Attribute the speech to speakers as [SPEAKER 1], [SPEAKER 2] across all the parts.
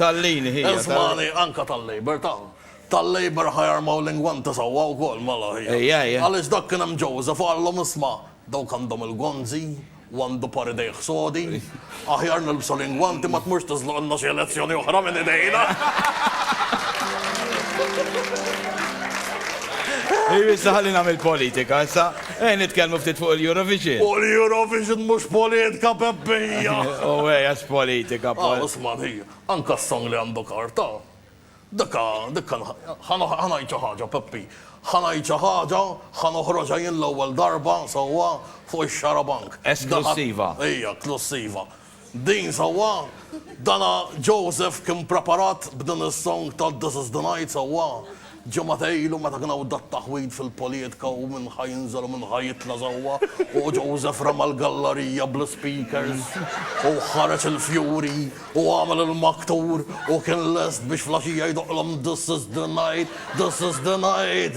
[SPEAKER 1] Tal-Lean hija. Iżmani anka tal-Labour ta. Tal-Labour ħa jarmaw l-ingwanti sewwa wkoll mela hija. Hija hija. Għaliex dak kien hemm Joseph qalhom isma' dawk għandhom il-gonzi u għandu par idejh sodi, aħjar nilbsu l-ingwanti ma tmurx tiżloqilna xi elezzjoni oħra minn idejna. Issa ħalli nagħmel politika issa. Ejja nitkellmu ftit fuq il-Eurovision. Fuq l-Eurovision mhux poliedka Peppija! Owwee għax politika pol. Ah Osman hi, anka s-song li għandu karta. Dikka, dikka ħa ngħid xi ħaġa Peppi, ħa ngħid xi ħaġa, ħa noħroġha jien l-ewwel darba sewwa fuq ix-xarabank. Esklussiva. Ija, esklussiva. Din sewwa? Dana Joseph kien preparat b'din is-song ta' This is the night sewwa? Ġimgħatej ilu meta kien hawn dat-taħwid fil-polietka u min ħa jinżel u min ħa jitla' sewwa u Joseph rema' l-gallarija bl-ispeakers u ħareġ il-fjuri u għamel il-maktur u kien lest biex fl-għaxija jdoqqlhom This is the night, this is the night.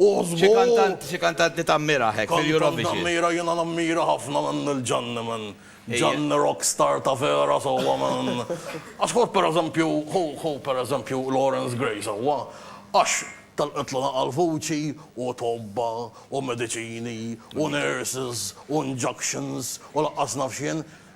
[SPEAKER 1] U żgur. Xi kantant li tammira hekk fil-Eurovision? Kantant nammira, jiena nammira ħafna minn Lil Ġanni minn. Ġanni rock star ta' vera sewwa minn. Għax ħu pereżempju, ħu ħu pereżempju Lawrence Gray sewwa, għax telqitlna naqal vuċi u tobba u mediċini u nurses u injunctions u laqqas naf x'jien.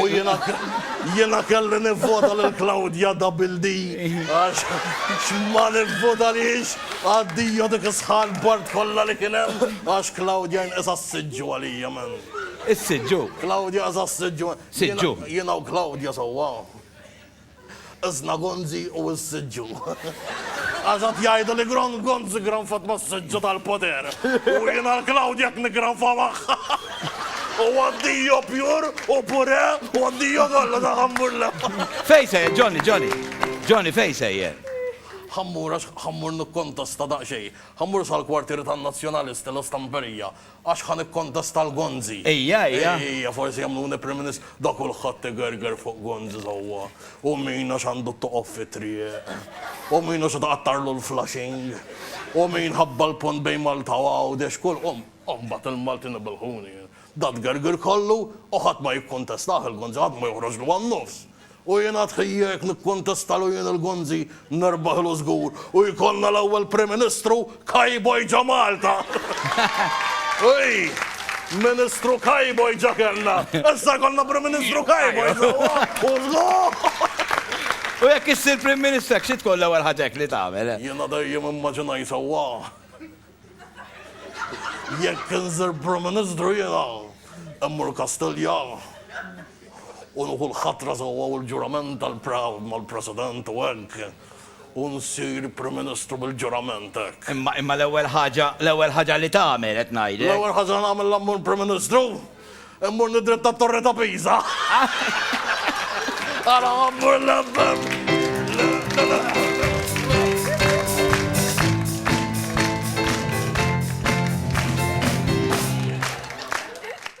[SPEAKER 1] U jiena kelli nivvota lil Claudia Double D għax x'ma nivvotalhiex addio dik is-sħan bard kollha li kien hemm għax Claudia nqisha s-siġġu għalija man. Is-siġġu? Claudia nqisha s-siġġu. Siġġu. Jiena u Claudia sewwa. Sna-Gonzi u s-Siġġu. Għax qed jgħidu li Gron Gonzi granfat mas-Siġġu tal-poter. U jiena l-Klawdja qed niggranfa magħha. U addio pure u purè u addio kollox għal Ħammurla. Fejn sejjer, Johnny, Johnny? Johnny, fejn sejjer? Ħammur, għax Ħammur nikkontesta daqsxejn. Ħammur sal-kwartieri tan-Nazzjonalisti, L-Istamperija. Għax ħa nikkontesta l-Gonzi. Ejja, ejja. Ejja, forsi jagħmluni Prim Ministru. Da kulħadd igerger fuq Gonzi sewwa. U min għax għandu t-toqob fit-triq. U min għax tqattgħarlu l-flashing. U min ħabba l-pont bejn Malta u Għawdex. Kull, u mbagħad il-Maltin ibelħuni. Da tgergir kollu u ħadd ma jikkontestah il-Gonzi, ħadd ma joħroġlu għan-nofs. U jien għad ħija jekk nikkontestalu jien il-Gonzi nerbaħlu żgur u jkollna l-ewwel Prim Ministru Cowboy ġo Malta! Ui! Ministru Cowboy ġa kellna! Issa jkollna Prim Ministru Cowboy sewwa u żgur! U jekk issir Prim Ministru hekk xi tkun l-ewwel ħaġa hekk li tagħmel? Jiena dejjem immaġinajt sewwa. Jekk insir Prim Ministru jiena immur Kastilja u nieħu l-ħatra sewwa u l-ġurament tal-proud mal-President u hekk u nsir Prim Ministru bil-ġurament hekk. Imma imma l-ewwel ħaġa l-ewwel ħaġa li tagħmel qed ngħidlek. L-ewwel ħaġa nagħmel la mmur Prim Ministru? Immorni dritt għat-Torri ta' Pisa. Għala għammur l-FM.